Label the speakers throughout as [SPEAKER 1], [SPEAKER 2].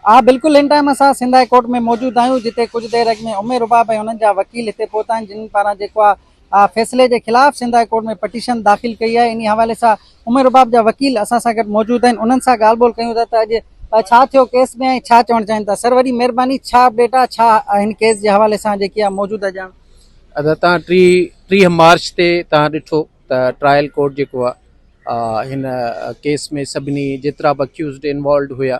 [SPEAKER 1] اها بلڪل هن ٽائيم اسان سنڌ هاء ڪورٽ ۾ موجود آهيون جتي ڪجهه دير اڳ ۾ عمر رباب ۽ انهن جا وڪيل هتي پهتا آهن جنهن پاران جيڪو آهي اها فيصلي جي خلاف سنڌ هاء ڪورٽ ۾ پٽيشن داخل ڪئي آهي انهي حوالي سان عمر رباب جا وڪيل اسان سان گڏ موجود آهن انهن سان ڳالهه ٻولهه ڪيون ٿا ته اڄ ڇا ٿيو ڪيس ۾ ۽ ڇا چوڻ چاهين ٿا سر وڏي مهرباني ڇا اپڊيٽ آهي ڇا هن ڪيس جي حوالي سان جيڪي آهي موجوده ڄاڻ ادا تان ٽي
[SPEAKER 2] ٽي مارچ تي تان ڏٺو ته ٽرائل ڪورٽ جيڪو آهي هن ڪيس ۾ سڀني جيترا به اڪيوزڊ انوالوڊ هيا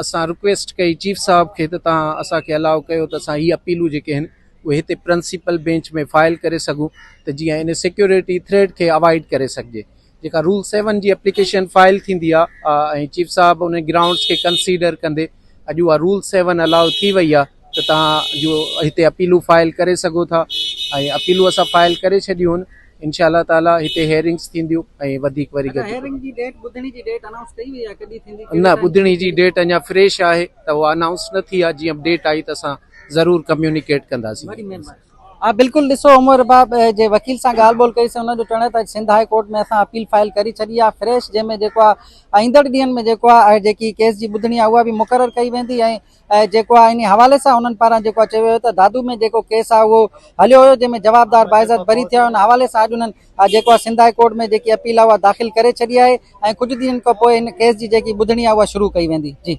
[SPEAKER 2] اسان رڪويسٽ ڪئي چيف صاحب کي ته تان اسان کي الاء ڪيو ته اسان هي اپيلون جيڪي آهن اهي هتي پرنسپل بينچ ۾ فائل ڪري سگهون ته جيئن ان سيڪيورٽي ٿريٽ کي اوائڊ ڪري سگهجي جيڪا رول سيون جي اپليڪيشن فائل ٿيندي آهي ۽ چيف صاحب ان گرائونڊس کي ڪنسيڊر ڪندي اڄ اها رول سيون الاء ٿي وئي آهي ته تان جو هتي اپيلون فائل ڪري سگهو ٿا ۽ اپيلون اسان فائل ڪري ڇڏيون آهن انشاء الله تعالي هتي هيئرنگس ٿينديون ۽ وڌيڪ وري گڏجي هيئرنگ جي ڊيٽ
[SPEAKER 1] ٻڌڻي جي ڊيٽ انائونس ڪئي وئي آهي ڪڏهن ٿيندي نه ٻڌڻي جي ڊيٽ
[SPEAKER 2] اڃا فريش آهي ته اها انائونس نه ٿي آهي جيئن ڊيٽ آئي ته اسان ضرور ڪميونيڪيٽ ڪنداسين وڏي مهرباني ها بلڪل
[SPEAKER 1] ڏسو عمر رباب جي وڪيل سان ڳالهه ٻولهه ڪئي سين انهن جو چوڻ آهي ته سنڌ هاء ڪورٽ ۾ اسان اپيل فائل ڪري ڇڏي آهي فريش جنهن ۾ جيڪو آهي ايندڙ ڏينهن ۾ جيڪو آهي جيڪي ڪيس جي ٻڌڻي آهي اها به مقرر ڪئي ويندي ۽ ۽ جيڪو آهي انهي حوالي سان انهن پاران جيڪو آهي چيو ويو ته دادو ۾ جيڪو ڪيس آهي اهو هليو هيو جنهن ۾ جوابدار باعزت بري ٿيا ان حوالي سان اڄ انهن جيڪو آهي سنڌ هاء ڪورٽ ۾ جيڪي اپيل آهي اها داخل ڪري ڇڏي آهي ۽ ڪجهه ڏينهن کان پوء ان ڪيس جي جيڪي ٻڌڻي آهي اها شروع ڪئي ويندي جي